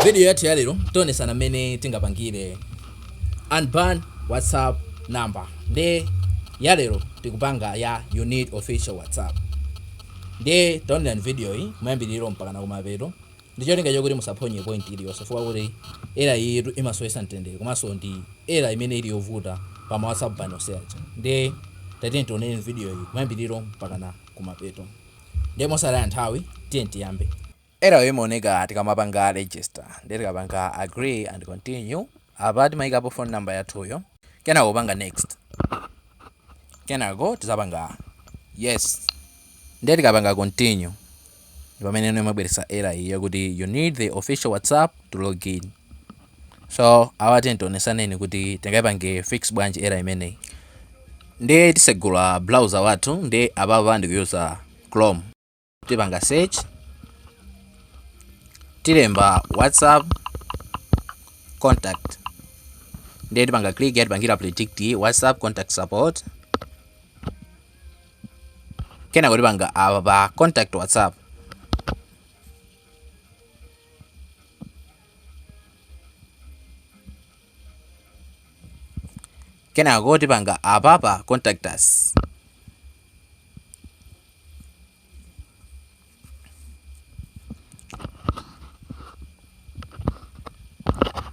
Vidiyo yathu ya lero tionesana mmene tingapangire unban whatsapp number nde ya lero tikupanga ya you need official whatsapp nde taonerani vidiyo yi kumayambiriro mpaka na kumapeto ndi cholinga chakuti musaphonye point iliyonse chifukwa kuti error yitu imasowesa mtendere komanso ndi error imene ili yovuta pa ma whatsapp ban onse aja nde tatiyeni tionere vidiyo yi kumayambiriro mpaka na kumapeto nde mosataya nthawi tiyeni tiyambe Error yo imaoneka tikamapanga register ndiye tikapanga agree and continue apa timayikapo phone number yathuyo kenako kupanga next kenako tizapanga yes ndiye tikapanga continue ndi pamene no imabweretsa error iyi yakuti you need the official whatsapp to log in so apa tatini tionesaneni kuti tingayipange fix bwanji error imeneyi ndiye tisegula browser wathu ndiye apapa ndikuyuza chrome tipanga search tilemba whatsapp contact ndiye tipanga click yatipangira predict whatsapp contact support kenako tipanga apa pa contact whatsapp kenako tipanga apa pa contact us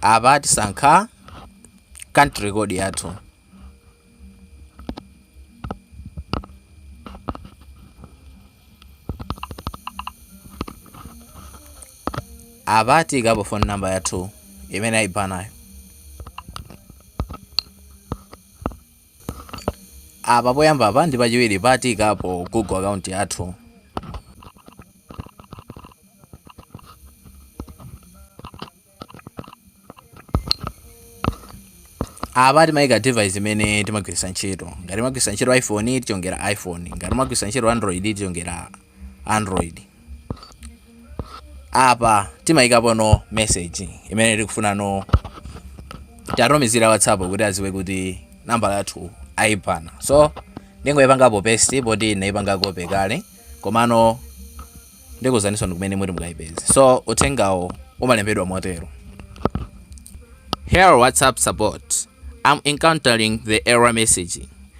apa tisankha country code yathu apa tiyikapo phone number yathu imene ayibanayo Apa poyambapa ndi pachiwiri pa tiikapo Google account yathu. Apa timaika device imene timagwiritsa ntchito. Ngati timagwiritsa ntchito iPhone tichongera iPhone, ngati timagwiritsa ntchito Android tichongera android apa timayikapo no message imene tikufuna no tiwatumizire whatsapp kuti aziwe kuti nambala yathu ayibana so ndingoyipangapo paste poti ndinayipanga copy kale komano ndikuuzaninsoni kumene muti mukayipeze so uthengawo umalembedwa motero dear whatsapp support i'm encountering the error message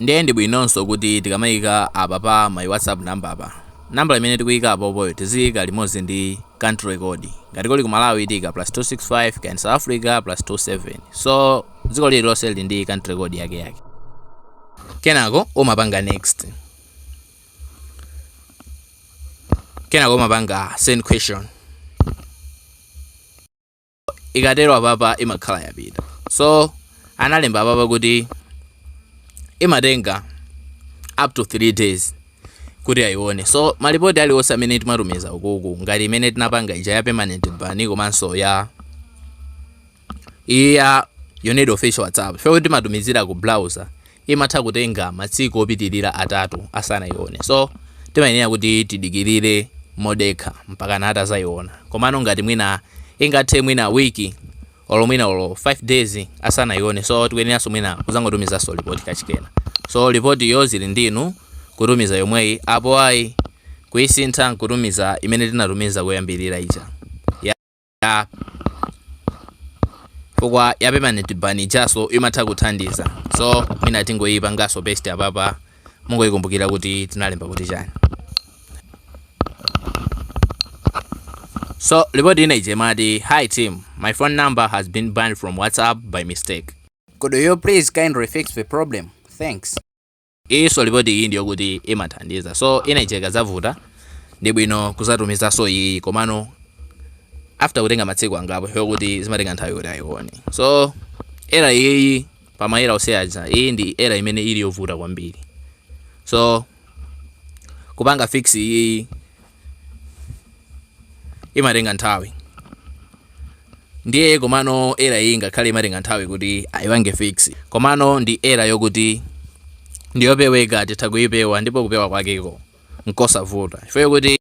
Ndiye ndi bwinonso kuti tikamaika apa pa my whatsapp number apa, nambala imene tikuika apopoyo tiziika limodzi ndi country code. Ngati kuli ku Malawi tiika plus 265 kaya South Africa plus 27. So dziko lililonse lili ndi country code yakeyake. Kenako umapanga next. Kenako umapanga send question. ikatero apapa imakhala yapita so analemba apapa kuti imatenga up to 3 days kuti ayione so malipoti aliwonse amene timatumiza ukuku ngati imene tinapanga ija ya permanent ban komanso ya you need official whatsapp fyo timatumizira ku browser imatha kutenga matsiku opitilira atatu asanaione so timayenera kuti tidikilire modekha mpakana atazaiona komano ngati mwina ingathe mwina week olo mwina olo 5 days asanaione so tikuyeneranso mwina kuzangotumizanso lipoti kachikenanso so lipoti yo zili ndinu kutumiza yomweyi apo ayi kuisintha nkutumiza imene tinatumiza kuyambirira ija ya fukwa ya permanent ban ijaso imatha kuthandiza so mwina tingoyipangaso paste apapa mungoyikumbukira kuti tinalemba kuti chani So, ripoti ina ija imati, Hi team, my phone number has been banned from WhatsApp by mistake. Could you please kindly fix the problem? Thanks. Iyinso report iyi ndiyokuti imathandiza so ina ija ikadzavuta ndi bwino kudzatumizanso iyiyi komano after kutenga matsiku angapo chifukwa kuti zimatenga nthawi kuti ayione so era iyiyi pa ma era onse aja iyi ndi era imene ili yovuta kwambiri so kupanga fix iyiyi imatenga nthawi ndiye komano era iyi ngakhale imatenga nthawi kuti ayipange fix komano ndi era yokuti ndiyopeweka titha kuyipewa ndipo kupewa kwakeko nkosavuta chifukwa yokuti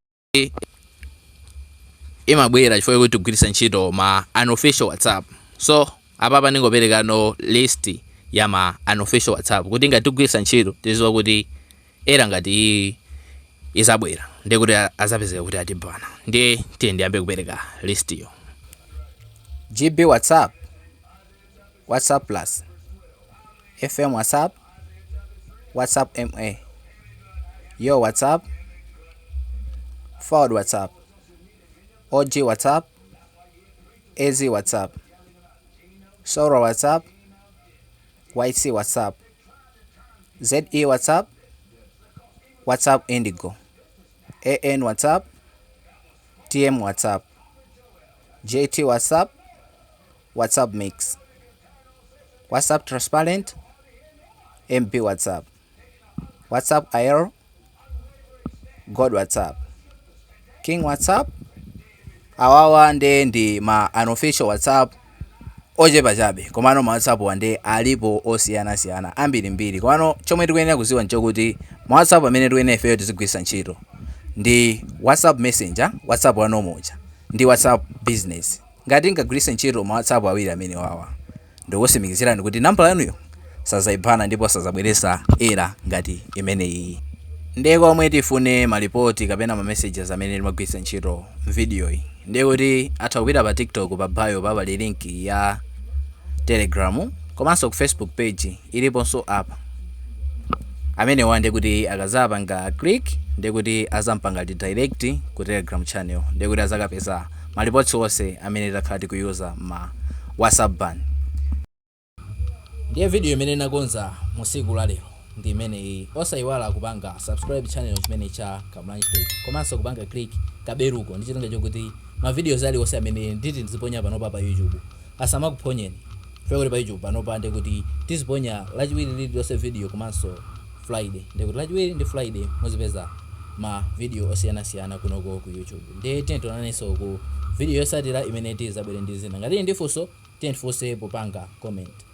imabwera chifukwa yokuti tigwiritsa ntchito ma unofficial whatsapp so apapa ndingoperekano list ya ma unofficial whatsapp kuti ngati tigwiritsa ntchito tiziwa kuti era ngati izabwera ndiye kuti azapezeka kuti atibana ndiye tiye ndiyambe kupereka list yo gb whatsapp whatsapp plus fm whatsapp whatsapp ma yo whatsapp fouad whatsapp og whatsapp az whatsapp soula whatsapp YC WhatsApp ZE WhatsApp WhatsApp Indigo AN WhatsApp TM WhatsApp JT WhatsApp WhatsApp Mix WhatsApp Transparent MB WhatsApp WhatsApp Aero, Gold WhatsApp, King WhatsApp. Awawa nde ndi ma unofficial WhatsApp ochepa chabe komano ma WhatsApp-wa nde alipo osiyanasiyana ambirimbiri komano chomwe tikuyenera kuziwa nchokuti ma WhatsApp amene tikuyenera ifeyo tizigwiritsa ntchito ndi WhatsApp messenger WhatsApp wa normal uja ndi WhatsApp business ngati tingagwiritse ntchito ma WhatsApp awiri amene wawa Ndikukusimikizirani kuti nambala yanuyo sazaibana ndipo sazabweresa error ngati imeneyiyi. Ndiye kwa omwe tifune ma report kapena ma messages amene timagwiritsa ntchito m'videoyi ndiye kuti atha kupita pa tiktok pa bio pa pali link ya telegram komanso ku facebook page iliponso apa amenewa ndiye kuti akazapanga click ndiye kuti azampanga direct ku telegram channel ndiye kuti azakapeza ma reports onse amene takhala tikuyuza mma whatsapp ban ndiye video imene nakonza musiku la lero ndi imeneyi osayiwala kupanga subscribe channel chimene cha Kamlanji Tech komanso kupanga click kaberuko ndi chilinga chokuti ma videos ali onse amene nditi ndiziponya panopa pa YouTube Asamakuphonyeni chifukwa choti pa YouTube panopa ndekuti tiziponya lachiwiri lililonse video komanso Friday. Ndekuti lachiwiri ndi Friday muzipeza ma video osiyanasiyana kunoko ku YouTube. Ndiye tiyeni tionanenso ku video yotsatira imene tizabwere ndi zina. Ngati muli ndi funso tiyeni tifunse popanga comment.